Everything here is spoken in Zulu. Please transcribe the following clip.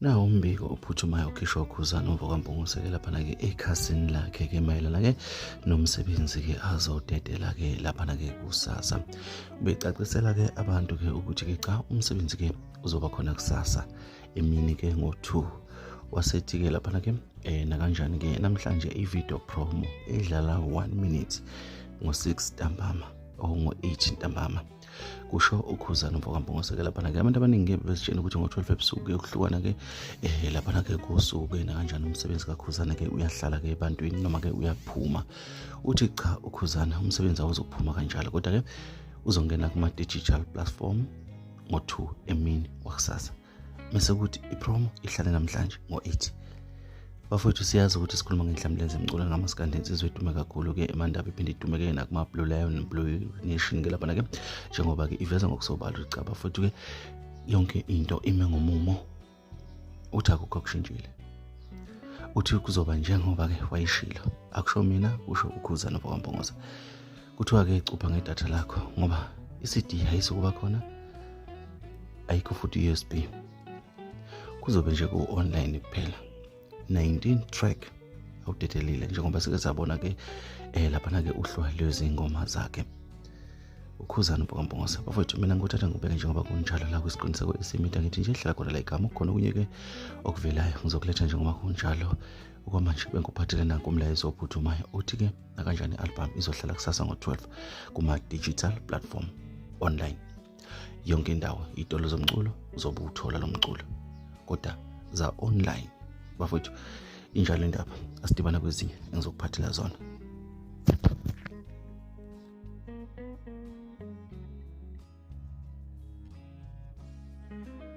nawo umbiko ophuthumayo okhishwa ukhuzana umva kwampungusekela laphana-ke ekhasini lakhe-ke mayelana-ke nomsebenzi-ke azodedela-ke laphana-ke kusasa becacisela-ke abantu-ke ukuthi-ke cha umsebenzi-ke uzoba khona kusasa emini-ke ngo-two wasethi-ke laphana-ke um eh, nakanjani-ke namhlanje i-video promo edlala one minute ngo-six ntambama or ngo-eight ntambama kusho ukhuzana mfoka mbongoso-ke laphana-ke abantu abaningi-ke besitshela ukuthi ngo-twelve ebusuku kuyokuhlukana-ke um eh, laphana-ke kusuke nakanjani umsebenzi kakhuzana-ke uyahlala-ke ebantwini noma-ke uyaphuma uthi cha ukhuzana umsebenzi awuzophuma kanjalo kodwa-ke uzongena kuma-digital platform ngo-two emini wakusasa mese kuthi ipromo ihlale namhlanje ngo-8 bafowethu siyazi ukuthi sikhuluma ngenhlamlenze emcula ngamasikandi insizwa idume kakhulu-ke emandaba iphinde idumeke nakumablue lion blue nation-ke laphana-ke njengoba-ke iveza ngokusobala ukuthi cha bafowethu-ke yonke into ime ngomumo uthi akukho kushintshile uthi kuzoba njengoba-ke wayishilo akusho mina kusho ukhuza nobokwambongoza kuthiwa ke cupha ngedatha lakho ngoba i-cd ayisukuba khona ayikho futhi i-usb kuzobe nje ku-online kuphela 19 track awudedelile njengoba sike sabona ke eh laphana ke uhluwa lwezingoma zakhe ukhuzana ubhokambongose bafowethu mina ngikuthatha ngibeke njengoba kunjalo la kwisiqiniseko esimida ngithi nje hlala khona la igama kukhona okunye ke okuvelayo ngizokuletha njengoba kunjalo okwamanje bengikuphathele nanku umlayezo ophuthumayo uthi ke nakanjani i-album izohlala kusasa ngo-12 kuma-digital platform online yonke indawo iy'tolo zomculo uzobe uthola lo mculo kodwa za-online bafowethu injalo indaba asidibana kwezinye engizokuphathela zona